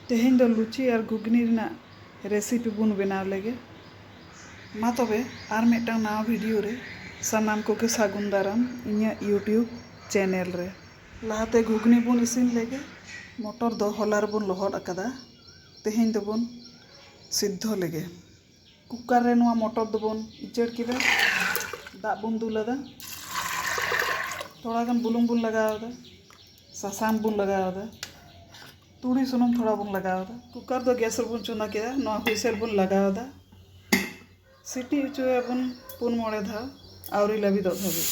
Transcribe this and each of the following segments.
ᱛᱮᱦᱮᱧ ᱫᱚ ᱞᱩᱪᱤ ᱟᱨ ᱜᱷᱩᱜᱽᱱᱤ ᱨᱮᱱᱟᱜ ᱨᱮᱥᱤᱯᱤ ᱵᱚᱱ ᱵᱮᱱᱟᱣ ᱞᱮᱜᱮ ᱢᱟ ᱛᱚᱵᱮ ᱟᱨ ᱢᱤᱫᱴᱟᱝ ᱱᱟᱣᱟ ᱵᱷᱤᱰᱤᱭᱳ ᱨᱮ ᱥᱟᱱᱟᱢ ᱠᱚᱜᱮ ᱥᱟᱹᱜᱩᱱ ᱫᱟᱨᱟᱢ ᱤᱧᱟᱹᱜ ᱤᱭᱩᱴᱤᱭᱩᱵᱽ ᱪᱮᱱᱮᱞ ᱨᱮ ᱞᱟᱦᱟᱛᱮ ᱜᱷᱩᱜᱽᱱᱤ ᱵᱚᱱ ᱤᱥᱤᱱ ᱞᱮᱜᱮ ᱢᱚᱴᱚᱨ ᱫᱚ ᱦᱚᱞᱟ ᱨᱮᱵᱚᱱ ᱞᱚᱦᱚᱫ ᱟᱠᱟᱫᱟ ᱛᱮᱦᱮᱧ ᱫᱚᱵᱚᱱ ᱥᱤᱫᱽᱫᱷᱚ ᱞᱮᱜᱮ ᱠᱩᱠᱟᱨ ᱨᱮ ᱱᱚᱣᱟ ᱢᱚᱴᱚᱨ ᱫᱚᱵᱚᱱ ᱩᱪᱟᱹᱲ ᱠᱮᱫᱟ ᱫᱟᱜ ᱵᱚᱱ ᱫᱩᱞ ᱟᱫᱟ ᱛᱷᱚᱲᱟ ᱜᱟᱱ ᱵᱩᱞᱩᱝ ᱵᱚᱱ ᱞᱟᱜᱟᱣ ᱟᱫᱟ ᱥᱟᱥᱟᱝ ᱵᱚᱱ ᱞᱟᱜᱟᱣ ᱟᱫᱟ ᱛᱩᱲᱤ ᱥᱩᱱᱩᱢ ᱛᱷᱚᱲᱟ ᱵᱚᱱ ᱞᱟᱜᱟᱣ ᱟᱫᱟ ᱠᱩᱠᱟᱨ ᱫᱚ ᱜᱮᱥ ᱨᱮᱵᱚᱱ ᱪᱚᱸᱫᱟ ᱠᱮᱫᱟ ᱱᱚᱣᱟ ᱦᱩᱭᱥᱮᱞ ᱵᱚᱱ ᱞᱟᱜᱟᱣ ᱟᱫᱟ ᱥᱤᱴᱤ ᱦᱚᱪᱚᱭᱟᱵᱚᱱ ᱯᱩᱱ ᱢᱚᱬᱮ ᱫᱷᱟᱣ ᱟᱹᱣᱨᱤ ᱞᱟᱹᱵᱤᱫᱚᱜ ᱫᱷᱟᱹᱵᱤᱡ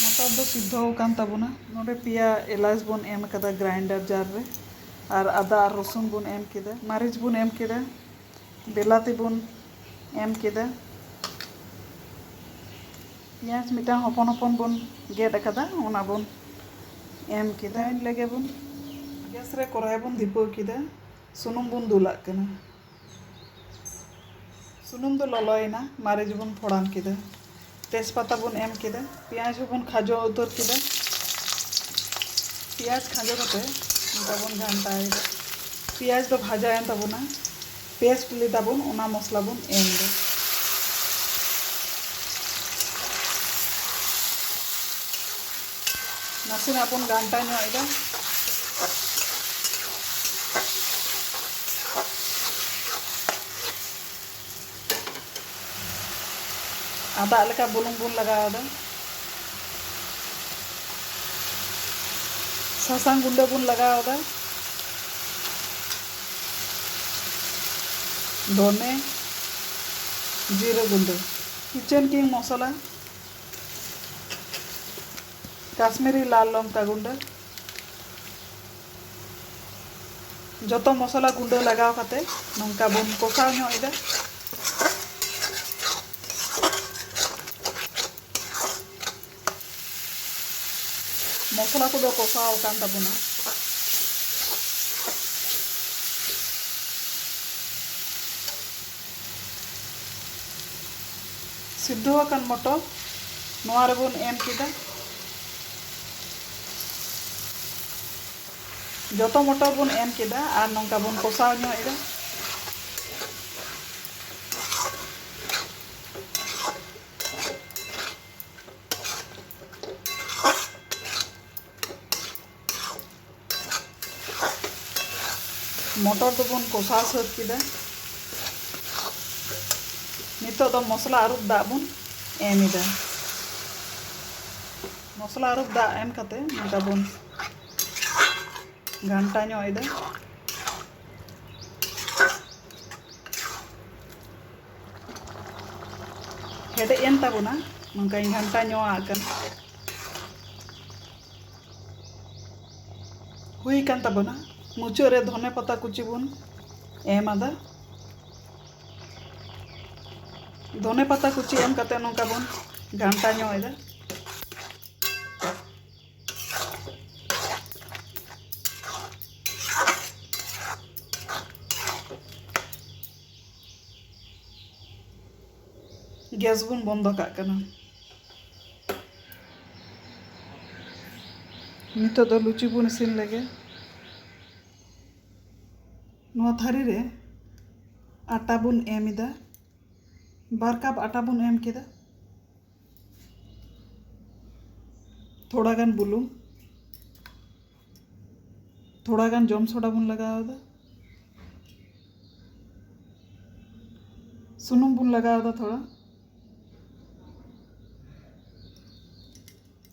ᱢᱚᱴᱚᱨ ᱫᱚ ᱥᱤᱫᱽᱫᱷᱚ ᱟᱠᱟᱱ ᱛᱟᱵᱚᱱᱟ ᱱᱚᱰᱮ ᱯᱮᱭᱟ ᱮᱞᱟᱪ ᱵᱚᱱ ᱮᱢ ᱟᱠᱟᱫᱟ ᱜᱨᱟᱭᱤᱱᱰᱟᱨ ᱡᱟᱨ ᱨᱮ ᱟᱨ ᱟᱫᱟ ᱟᱨ ᱨᱚᱥᱩᱱ ᱵᱚᱱ ᱮᱢ ᱠᱮᱫᱟ ᱢᱟᱹᱨᱤᱪ ᱵᱚᱱ ᱮᱢ ᱠᱮᱫᱟ ᱵᱮᱞᱟᱛᱤ ᱵᱚᱱ ᱮᱢ ᱠᱮᱫᱟ᱾ ᱯᱮᱸᱭᱟᱡᱽ ᱢᱤᱫᱴᱟᱝ ᱦᱚᱯᱚᱱ ᱦᱚᱯᱚᱱ ᱵᱚᱱ ᱜᱮᱫ ᱟᱠᱟᱫᱟ ᱚᱱᱟ ᱵᱚᱱ ᱮᱢ ᱠᱮᱫᱟ᱾ ᱤᱱ ᱞᱮᱜᱮ ᱵᱚᱱ ᱜᱮᱥ ᱨᱮ ᱠᱚᱨᱟᱭ ᱵᱚᱱ ᱫᱷᱤᱯᱟᱹᱣ ᱠᱮᱫᱟ᱾ ᱥᱩᱱᱩᱢ ᱵᱚᱱ ᱫᱩᱞᱟᱜ ᱠᱟᱱᱟ᱾ ᱥᱩᱱᱩᱢ ᱫᱚ ᱞᱚᱞᱚᱭᱮᱱᱟ ᱢᱟᱹᱨᱤᱪ ᱵᱚᱱ ᱯᱷᱚᱲᱟᱱ ᱠᱮᱫᱟ᱾ ᱛᱮᱡᱽ ᱯᱟᱛᱟ ᱵᱚᱱ ᱮᱢ ᱠᱮᱫᱟ ᱯᱮᱸᱭᱟᱡᱽ ᱦᱚᱸᱵᱚᱱ ᱠᱷᱟᱡᱚ ᱩᱛᱟᱹᱨ ᱠᱮᱫᱟ ᱯᱮᱸᱭᱟᱡᱽ ᱠᱷᱟᱡᱚ ᱠᱟᱛᱮ ᱚᱱᱠᱟ ᱵᱚᱱ ᱜᱷᱟᱱᱴᱟᱭᱮᱫᱟ ᱯᱮᱸᱭᱟᱡᱽ ᱫᱚ ᱵᱷᱟᱡᱟᱭᱮᱱ ᱛᱟᱵᱚᱱᱟ ᱯᱮᱥᱴ ᱞᱮᱫᱟ ᱵᱚᱱ ᱚᱱᱟ ᱢᱚᱥᱞᱟ ᱵᱚᱱ ᱮᱢ ᱮᱫᱟ ᱱᱟᱥᱮᱱᱟᱜ ᱵᱚᱱ ᱜᱷᱟᱱᱴᱟ ᱧᱚᱜ ᱮᱫᱟ ᱟᱨ ᱫᱟᱜ ᱞᱮᱠᱟ ᱵᱩᱞᱩᱝ ᱵᱚᱱ ᱞᱟᱜᱟᱣᱫᱟ ᱥᱟᱥᱟᱝ ᱜᱩᱸᱰᱟᱹ ᱵᱚᱱ ᱞᱟᱜᱟᱣᱫᱟ ᱫᱷᱚᱱᱮ ᱡᱤᱨᱟᱹ ᱜᱩᱸᱰᱟᱹ ᱠᱤᱪᱮᱱ ᱠᱤᱝ ᱢᱚᱥᱞᱟ ᱠᱟᱥᱢᱤᱨᱤ ᱞᱟᱞ ᱞᱚᱝᱠᱟ ᱜᱩᱸᱰᱟᱹ ᱡᱚᱛᱚ ᱢᱚᱥᱞᱟ ᱜᱩᱸᱰᱟᱹ ᱞᱟᱜᱟᱣ ᱠᱟᱛᱮ ᱱᱚᱝᱠᱟ ᱵᱚᱱ ᱠᱚᱥᱟᱣ ᱧᱚᱜ ᱮᱫᱟ ᱢᱚᱥᱞᱟ ᱠᱚᱫᱚ ᱠᱚᱥᱟᱣ ᱟᱠᱟᱱ ᱛᱟᱵᱚᱱᱟ ᱥᱤᱫᱷᱚ ᱟᱠᱟᱱ ᱢᱚᱴᱚᱨ ᱱᱚᱣᱟ ᱨᱮᱵᱚᱱ ᱮᱢ ᱠᱮᱫᱟ ᱡᱚᱛᱚ ᱢᱚᱴᱚᱨ ᱵᱚᱱ ᱮᱢ ᱠᱮᱫᱟ ᱟᱨ ᱱᱚᱝᱠᱟ ᱵᱚᱱ ᱠᱚᱥᱟᱣ ᱧᱚᱜ ᱮᱫᱟ ᱢᱚᱴᱚᱨ ᱫᱚᱵᱚᱱ ᱠᱚᱥᱟᱣ ᱥᱟᱹᱛ ᱠᱮᱫᱟ ᱱᱤᱛᱚᱜ ᱫᱚ ᱢᱚᱥᱞᱟ ᱟᱹᱨᱩᱵ ᱫᱟᱜ ᱵᱚᱱ ᱮᱢ ᱮᱫᱟ ᱢᱚᱥᱞᱟ ᱟᱨᱚ ᱫᱟᱜ ᱮᱢ ᱠᱟᱛᱮ ᱱᱚᱝᱠᱟ ᱵᱚᱱ ᱜᱷᱟᱱᱴᱟ ᱧᱚᱜ ᱮᱫᱟ ᱦᱮᱰᱮᱡ ᱮᱱ ᱛᱟᱵᱚᱱᱟ ᱱᱚᱝᱠᱟᱧ ᱜᱷᱟᱱᱴᱟ ᱧᱚᱜ ᱟᱜ ᱠᱟᱱᱟ ᱦᱩᱭ ᱠᱟᱱ ᱛᱟᱵᱚᱱᱟ ᱢᱩᱪᱟᱹᱫ ᱨᱮ ᱫᱷᱚᱱᱮ ᱯᱟᱛᱟ ᱠᱩᱪᱤ ᱵᱚᱱ ᱮᱢ ᱟᱫᱟ ᱫᱷᱚᱱᱮ ᱯᱟᱛᱟ ᱠᱩᱪᱤ ᱮᱢ ᱠᱟᱛᱮ ᱱᱚᱝᱠᱟ ᱵᱚᱱ ᱜᱷᱟᱱᱴᱟ ᱧᱚᱜ ᱮᱫᱟ ᱜᱮᱥ ᱵᱚᱱ ᱵᱚᱱᱫᱚ ᱠᱟᱜ ᱠᱟᱱᱟ ᱱᱤᱛᱚᱜ ᱫᱚ ᱞᱩᱪᱤ ᱵᱚᱱ ᱤᱥᱤᱱ ᱞᱮᱜᱮ ᱱᱚᱣᱟ ᱛᱷᱟᱹᱨᱤ ᱨᱮ ᱟᱴᱟ ᱵᱚᱱ ᱮᱢ ᱮᱫᱟ ᱵᱟᱨ ᱠᱟᱯ ᱟᱴᱟ ᱵᱚᱱ ᱮᱢ ᱠᱮᱫᱟ ᱛᱷᱚᱲᱟ ᱜᱟᱱ ᱵᱩᱞᱩᱝ ᱛᱷᱚᱲᱟ ᱜᱟᱱ ᱡᱚᱢ ᱥᱚᱰᱟ ᱵᱚᱱ ᱞᱟᱜᱟᱣ ᱮᱫᱟ ᱥᱩᱱᱩᱢ ᱵᱚᱱ ᱞᱟᱜᱟᱣ ᱮᱫᱟ ᱛᱷᱚᱲᱟ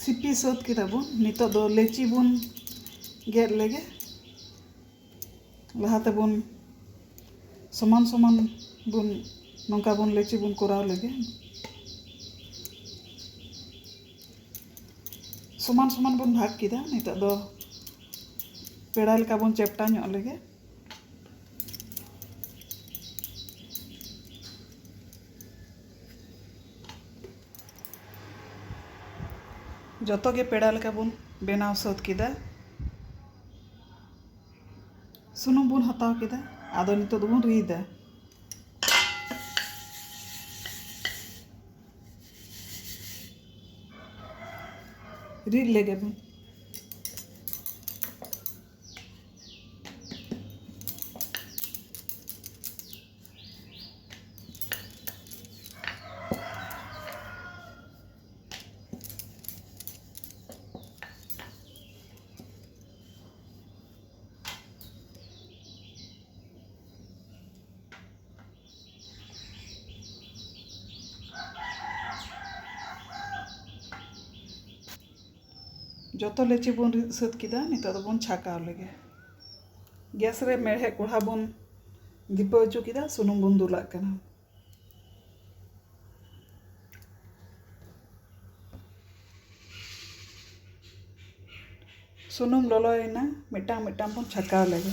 ᱥᱤᱯᱤ ᱥᱟᱹᱛ ᱠᱮᱫᱟ ᱵᱚᱱ ᱱᱤᱛᱚᱜ ᱫᱚ ᱞᱮᱪᱤ ᱵᱚᱱ ᱜᱮᱫ ᱞᱮᱜᱮ ᱞᱟᱦᱟ ᱛᱮᱵᱚᱱ ᱥᱚᱢᱟᱱ ᱥᱚᱢᱟᱱ ᱵᱚᱱ ᱱᱚᱝᱠᱟ ᱵᱚᱱ ᱞᱮᱪᱤ ᱵᱚᱱ ᱠᱚᱨᱟᱣ ᱞᱮᱜᱮ ᱥᱚᱢᱟᱱ ᱥᱚᱢᱟᱱ ᱵᱚᱱ ᱵᱷᱟᱜᱽ ᱠᱮᱫᱟ ᱱᱤᱛᱚᱜ ᱫᱚ ᱯᱮᱲᱟ ᱞᱮᱠᱟ ᱵᱚᱱ ᱪᱮᱯᱴᱟ ᱧᱚᱜ ᱞᱮᱜᱮ ᱡᱚᱛᱚ ᱜᱮ ᱯᱮᱲᱟ ᱞᱮᱠᱟ ᱵᱚᱱ ᱵᱮᱱᱟᱣ ᱥᱟᱹᱛ ᱠᱮᱫᱟ ᱥᱩᱱᱩᱢ ᱵᱚᱱ ᱦᱟᱛᱟᱣ ᱠᱮᱫᱟ ᱟᱫᱚ ᱱᱤᱛᱚᱜ ᱫᱚᱵᱚᱱ ᱨᱤᱫᱟ ᱨᱤᱫ ᱞᱮᱜᱮ ᱵᱚᱱ ᱡᱚᱛᱚ ᱞᱩᱪᱤ ᱵᱚᱱ ᱨᱤᱫ ᱥᱟᱹᱛ ᱠᱮᱫᱟ ᱱᱤᱛᱚᱜ ᱫᱚᱵᱚᱱ ᱪᱷᱟᱸᱠᱟᱣ ᱞᱮᱜᱮ ᱜᱮᱥ ᱨᱮ ᱢᱮᱬᱦᱮᱫ ᱠᱚᱲᱦᱟ ᱵᱚᱱ ᱫᱷᱤᱯᱟᱹ ᱦᱚᱪᱚ ᱠᱮᱫᱟ ᱥᱩᱱᱩᱢ ᱵᱚᱱ ᱫᱩᱞᱟᱜ ᱠᱟᱱᱟ ᱥᱩᱱᱩᱢ ᱞᱚᱞᱚᱭᱮᱱᱟ ᱢᱤᱫᱴᱟᱝ ᱢᱤᱫᱴᱟᱝ ᱵᱚᱱ ᱪᱷᱟᱠᱟᱣ ᱞᱮᱜᱮ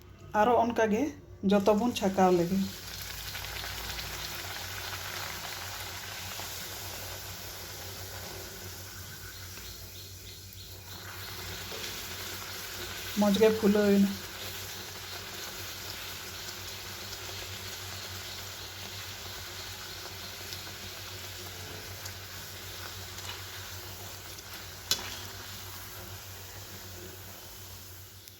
ᱟᱨᱚ ᱚᱱᱠᱟ ᱜᱮ ᱡᱚᱛᱚ ᱵᱚᱱ ᱪᱷᱟᱠᱟᱣ ᱞᱮᱜᱮ᱾ ᱢᱚᱡᱽ ᱜᱮ ᱯᱷᱩᱞᱟᱹᱣ ᱮᱱᱟ᱾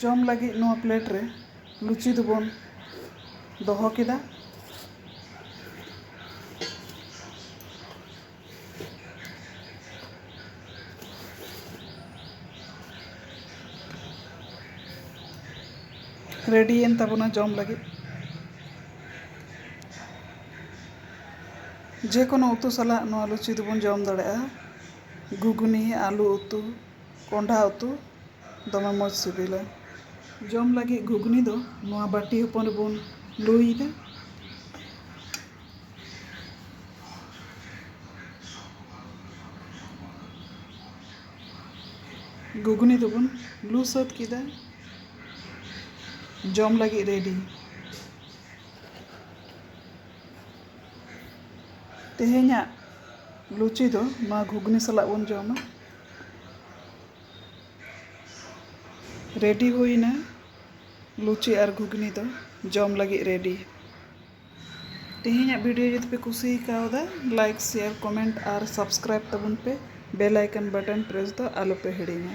ᱡᱚᱢ ᱞᱟᱹᱜᱤᱫ ᱱᱚᱣᱟ ᱯᱞᱮᱴ ᱨᱮ ᱞᱩᱪᱤ ᱫᱚᱵᱚᱱ ᱫᱚᱦᱚ ᱠᱮᱫᱟ ᱨᱮᱰᱤᱭᱮᱱ ᱛᱟᱵᱚᱱᱟ ᱡᱚᱢ ᱞᱟᱹᱜᱤᱫ ᱡᱮᱠᱳᱱᱳ ᱩᱛᱩ ᱥᱟᱞᱟᱜ ᱱᱚᱣᱟ ᱞᱩᱪᱤ ᱫᱚᱵᱚᱱ ᱡᱚᱢ ᱫᱟᱲᱮᱭᱟᱜᱼᱟ ᱜᱷᱩᱜᱽᱱᱤ ᱟᱹᱞᱩ ᱩᱛᱩ ᱠᱚᱸᱰᱷᱟ ᱩᱛᱩ ᱫᱚᱢᱮ ᱢᱚᱡᱽ ᱥᱤᱵᱤᱞᱟ᱾ ᱡᱚᱢ ᱞᱟᱹᱜᱤᱫ ᱜᱷᱩᱜᱽᱱᱤ ᱫᱚ ᱱᱚᱣᱟ ᱵᱟᱹᱴᱤ ᱦᱚᱯᱚᱱ ᱨᱮᱵᱚᱱ ᱞᱩᱭᱮᱫᱟ᱾ ᱜᱷᱩᱜᱽᱱᱤ ᱫᱚᱵᱚᱱ ᱞᱩ ᱥᱟᱹᱛ ᱠᱮᱫᱟ᱾ ᱡᱚᱢ ᱞᱟᱹᱜᱤᱫ ᱨᱮᱰᱤ᱾ ᱛᱮᱦᱮᱧᱟᱜ ᱞᱩᱪᱤ ᱫᱚ ᱱᱚᱣᱟ ᱜᱷᱩᱜᱽᱱᱤ ᱥᱟᱞᱟᱜ ᱵᱚᱱ ᱡᱚᱢᱟ᱾ ᱨᱮᱰᱤ ᱦᱩᱭ ᱮᱱᱟ ᱞᱩᱪᱤ ᱟᱨ ᱜᱷᱩᱜᱽᱱᱤ ᱫᱚ ᱡᱚᱢ ᱞᱟᱹᱜᱤᱫ ᱨᱮᱰᱤ ᱛᱮᱦᱮᱧᱟᱜ ᱵᱷᱤᱰᱤᱭᱳ ᱡᱩᱫᱤ ᱯᱮ ᱠᱩᱥᱤ ᱠᱟᱣᱫᱟ ᱞᱟᱭᱤᱠ ᱥᱮᱭᱟᱨ ᱠᱚᱢᱮᱱᱴ ᱟᱨ ᱥᱟᱵᱥᱠᱨᱟᱭᱤᱵ ᱛᱟᱵᱚᱱ ᱯᱮ ᱵᱮᱞ ᱟᱭᱠᱚᱱ ᱵᱟᱴᱚᱱ ᱯᱨᱮᱥ ᱫᱚ ᱟᱞᱚ ᱯᱮ ᱦᱤᱲᱤᱧᱟ